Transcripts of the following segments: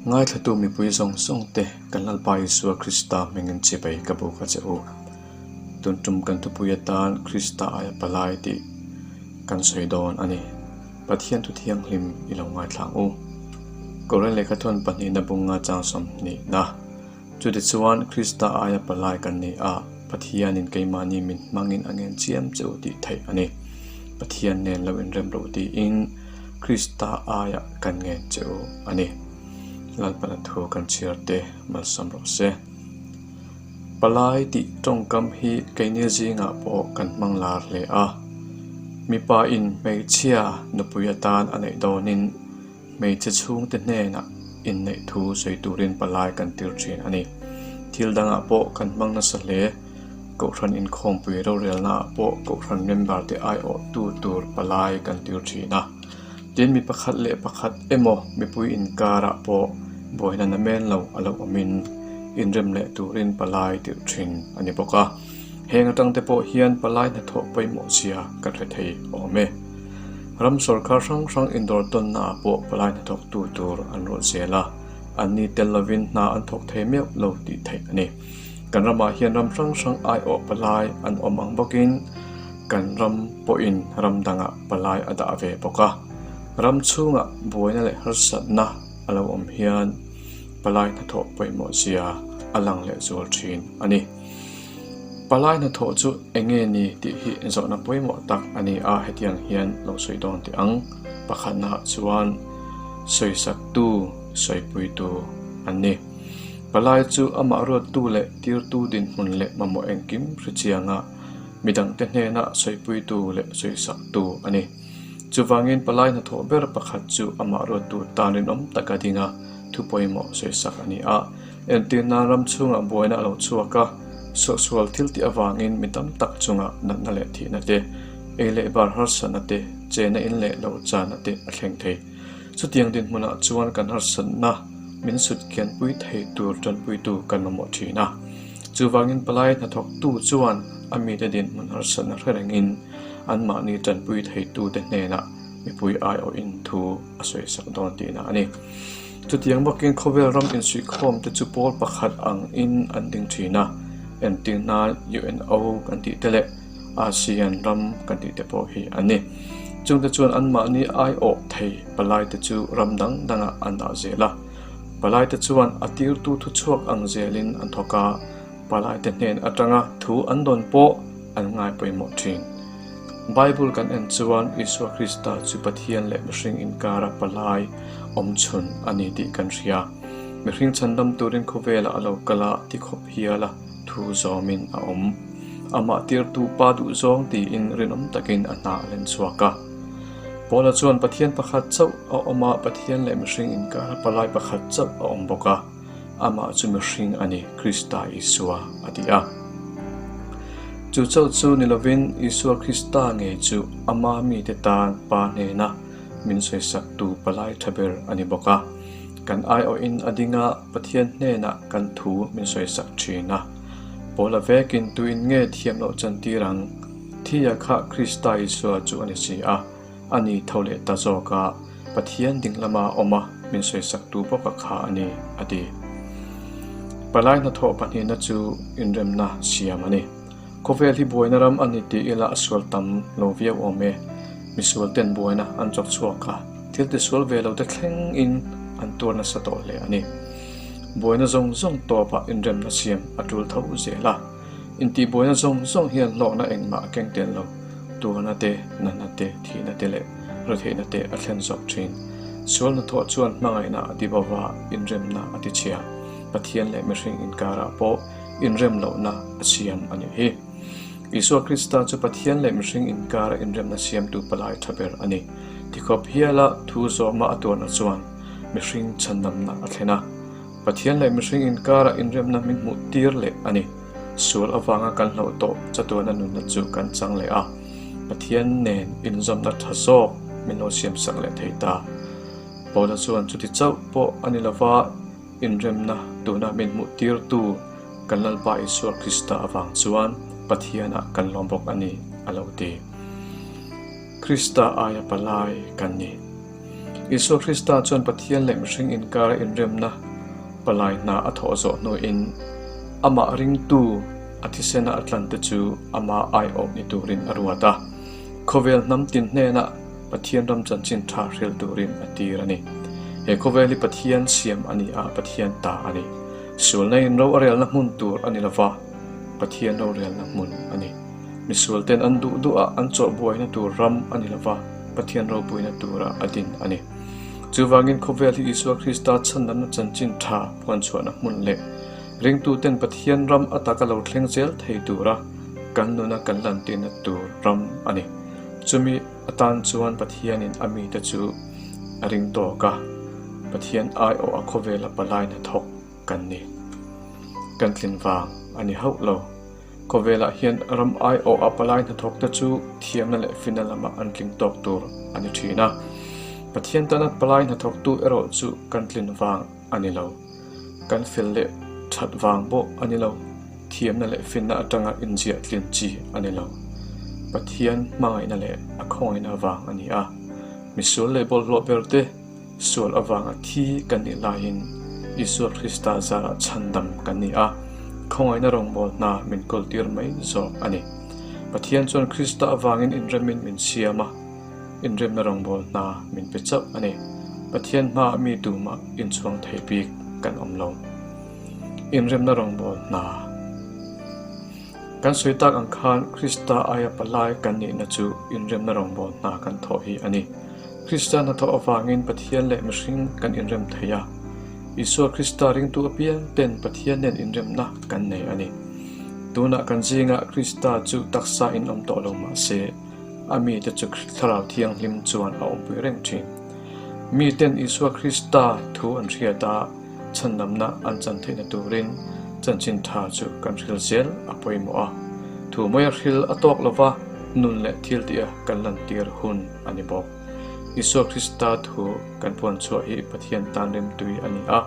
Ngaithla-tu mipui zawng zawng te kan Lalpa Isua Krista hmingin chibai ka buk a che u. Tun tum kan thupui atan Krista aia palai tih kan sawi dawn a ni. Pathiantu thianghlim i lo ngaithlang u. Korinleh kha thawn pahnihna bunga chang sawm hnihna. Chutichuan, Krista aia palai kan neih a, Pathianin keimahni min hmangin a ngenchiam che u tih theih a ni. Pathian nen lo inremro tiin Krista aia kan ngen che u a ni. Lalpana thu kan chhiar te malsam rawh se. Palai tih tawngkam hi keinil zingah pawh kan hmang lar hle a. Mipain hmeichhia nupui atan a neih dawnin, Hmeichhe chhungte hnenah inneih thu sawi turin palai kan tir thin a ni. Thil dangah pawh kan hmang nasa hle. Kohhran inkhawmpui rorelnaah pawh Kohhran member-te aiawhtu tur palai kan tir thin a. Tin, mi pakhat leh pakhat emaw mipui inkarah pawh buaina na men lo a lo awmin inrem leh turin palai tirh thin a ni bawk a. Heng atang te pawh hian palai hnathawh pawimawh sia kan hre thei awm e. Ram sorkar hrang hrang indawr tawnna ah pawh palai hnathawk tu tur an ruahzel a, an ni tel lovin hna an thawk thei meuh lo tih theih a ni. Kan ramah hian ram hrang hrang aiawh palai an awm ang bawkin kan ram pawhin ram dangah palai a dah ve bawk a. Ram chhungah buaina leh harsatna a lo awm hian palai hnathawh pawimawh sia a lang lehzual thin a ni. Palai hna thawh chu eng nge ni tih hi zawhna pawimawh tak a ni a, hetiang hian lo sawi dawn teh ang. Pakhatnaah chuan sawisaktu, sawipuitu an ni. Palai chu amah ruattu leh tirtu dinhmun leh mamawh engkim hre chianga mi dangte hnena sawipuitu leh sawisaktu a ni. Chuvangin palai hna thawh ber pakhat chu amah ruattu tan rinawm taka dinga thu pawimawh sawisak a ni a. Entirna ram chhungah buaina a lo chhuak a, suahsual thiltih avangin mi tam tak chunga natna leh thihna te, ei leh bar harsatna te, chena in leh lo chana te a thleng thei. Chutiang dinhmunah chuan kan harsatna min sutkianpui thei tur tanpuitu kan mamawh thin a. Chuvangin palai hnathawktu chuan a mite dinhmun harsatna thlarengin anmahni tanpui theitute hnenah mipui aiawhin thu a sawisak dawn tihna a ni. Chutiang bawkin khawvel ram insuihkhawm te chu pawl pakhat ang in an ding thin a, engtir hna UNO kan tih te leh ASEAN ram kan tih te pawh hi a ni. Chungte chuan anmahni aiawh thei palai te chu ram dang dang ah an dah zel a, palai te chuan a tirtu thu chhuak ang zel in an thawk a, palai te hnen atanga thu an dawn pawh an ngai pawimawh thin. Bible kan en chuan Isua Krista chu Pathian leh mihring inkara palai awmchhun a ni tih kan hria. Mihring chhandam turin khawvela a lo kal a, tikhawp hiala thu zawmin a awm. Amah tirtu Pa duhzawng tiin rinawm takin a hna a len chhuak a. Paula chuan Pathian pakhat chauh a awm a, Pathian leh mihring inkara palai pakhat chauh a awm bawk a. Amah chu mihring a ni, Krista Isua a ti a. Chu chauh chu ni lovin, Isua Krista ngei chu Ama mite tan Pa hnena min sawisaktu palai tha ber a ni bawk a. Kan aiawhin a dinga Pathian hnenah kan thu min sawisak thin a. Paula vekin tuin nge thiam loh chan tir ang? Thia kha Krista Isua chu a ni si a. a ni tho leh ta zawk a, Pathian ding lama awm a min sawisak tu bawk a kha a ni, a ti. Palai hnathawh pahnihna chu inremna siam a ni. Khawvel hi buaina ram a ni tih ila a sual tam lo viau awm e. Misual ten buaina an chawk chhuak a, thil tisual ve lote thleng in an tuar nasa tawh hle a ni. Buaina zawng zawng tawp ah inremna siam a tul tho zel a. Intihbuaina zawng zawng hian hlawhna engmah a keng tel lo. Tuahna te, natna te, thihna te leh retheihna te a thlen zawk thin. Sual hna thawh chuan hmangaihna a ti bawk a, inremna a tichhia. Pathian leh mihring inkarah pawh inrem lohna a siam a nih hi. Isua Krista chu Pathian leh mihring inkara inremna siamtu palai tha ber a ni. Tikhawp hiala thu zawma a tuarna chuan mihring chhandamna a thlen a. Pathian leh mihring inkarah inremna min hmuh tir leh a ni. Sual avanga kan hloh tawh chatuana nunna chu kan chang leh a, Pathian nen inzawmna tha zawk min lo siamsak leh thei ta. Paula chuan chuti chauh pawh a ni lova, inremna tuna min hmuh tirtu kan Lalpa Isua Krista avang chuan Pathianah kan lawm bawk a ni a lo ti. Krista aia palai kan ni. Isua Krista chuan Pathian leh mihring inkara inremna palai hna a thawh zawh hnuin amah ringtu a thisena a tlante chu amah aiawhni turin a ruat a. Khawvel hnam tin hnena Pathian ram chanchin tha hril turin a tir a ni. He khawvel hi Pathian siam a ni a, Pathian ta a ni. Sualnaiin ro a relna hmun tur a ni lova, Pathian rorelna hmun a ni. Misualten an duh duhah an chawhbuaihna tur ram a ni lova, Pathian ropuina turah a din a ni. Chuvangin khawvel hi Isua Krista chhanlamna chanchin tha phuanchhuahna hmun leh ringtuten Pathian ram a taka lo thleng zel thei tura kan nuna kan lantirna tur ram a ni. Chumi atan chuan Pathianin a mite chu a ring tawk a, Pathian aiawha khawvela palai hnathawk kan ni. Kan tlin vang a ni hauh lo. Khawvelah hian ram aiawh a palai hnathawkte chu thiamna leh fina lamah an tling tawk tur a ni thin a. Pathian tana palai hnathawktu erawh chu kan tlin vang a ni lo, kan fel leh that vang bawh a ni lo, thiamna leh finna atanga inziah tlin chi a ni lo. Pathian hmangaihna leh a khawngaihnaa vang a ni a, misul leh bawlhhlawh berte, Saul avanga thi kan nih laiin Isua Krista zara chhandam kan ni a, khawngaihna rawngbawl hna min kawltir mai zawk a ni. Pathian chuan Krista avangin inremin min siam a, inremna rawngbawl hna min pe chauh a ni. Pathian hmaah mi tumah inchhuang thei bik kan awm lo. Inremna rawngbawl hna kan sawi tak ang khan Krista aia palai kan nihna chu inremna rawngbawl hna kan thawh hi a ni. Kristian hnathawh avangin Pathian leh mihring kan inrem thei a. Isua Krista ringtu apiang ten Pathian nen inremna kan nei a ni. Tunah kan zingah Krista chu taksa in awm tawh lo mah se, a mite chu Thlarau Thianghlim chuan a awmpuih reng thin. Miten Isua Krista thu an hriat a, chhannamna an chan theihna turin chanchin tha chu kan hril zel a pawimawh a. Thu mawia hril a tawk lova nun leh thil tia kan lantir hun. a ni bawk. Isua Krista thu kan phuan chhuah hi Pathian tan rimtui a ni a,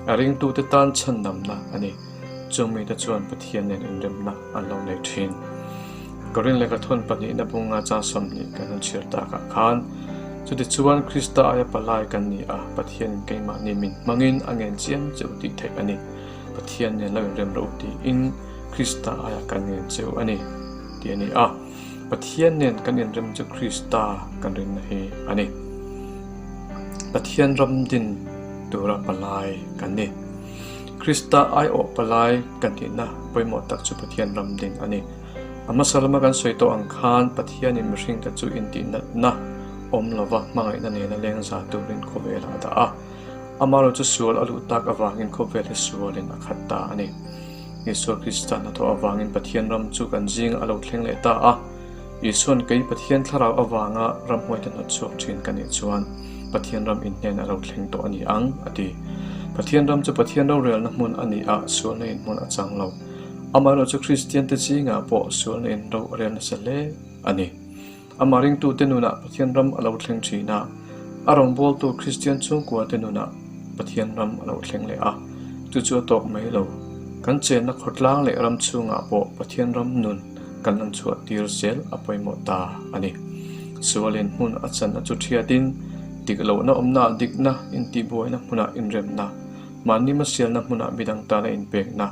a ringtute tan chhannamna a ni. Chung mite chuan Pathian nen inremna an lo nei thin. Ka rin leh ka thawn pahnihna bunga chang sawmhnih kan han chhiar takah khan, chutichuan Krista aia palai kan ni a, Pathianin keimahni min hmangin a ngen chiam cheu tih theih a ni. Pathian nen lo inrem rawh u tiin Krista aia kan ngen cheu a ni, tih a ni a. Pathian nen kan inrem chu Krista kan rinna hi a ni. Pathian ram din tura palai kan ni. Krista aiawh palai kan tihna pawimawh tak chu Pathian ram din a ni. A hmasa lama kan sawi tawh ang khan Pathianin mihring te chu intihnatna awm lova hmangaihna nena lengza turin khawvelah a dah a. Amaherawhchu sual a luh tak avangin khawvel hi sualin a khat ta a ni. Isua Krista hnathawh avangin Pathian ram chu kan zing a lo thleng leh ta a. Isuan kei Pathian thlarau avanga ramhuai ta hnawt chhuak thin ka nih chuan Pathian ram inhnen a lo thleng tawh a ni ang, a ti. Pathian ram chu Pathian rorelna hmun a ni a, sualna inhmun a chang lo. Amaherawhchu Kristiante zingah pawh sualna in rorel nasa hle a ni. Amah ringtute nunah Pathian ram a lo thleng thin a, a rawngbawltu Kristian chhungkuate nunah Pathian ram a lo thleng leh a. Chu chu a tawk mai lo. Kan chenna khawtlang leh ram chhungah pawh Pathian ram nun kan lan chhuah tir zel a pawimawh ta a ni. Sualin hmun a chan a chu ṭhiatin, dik lohna awmnaah dikna, intihbuaina hmunah inremna, mahni masialna hmunah midang tana inpekna,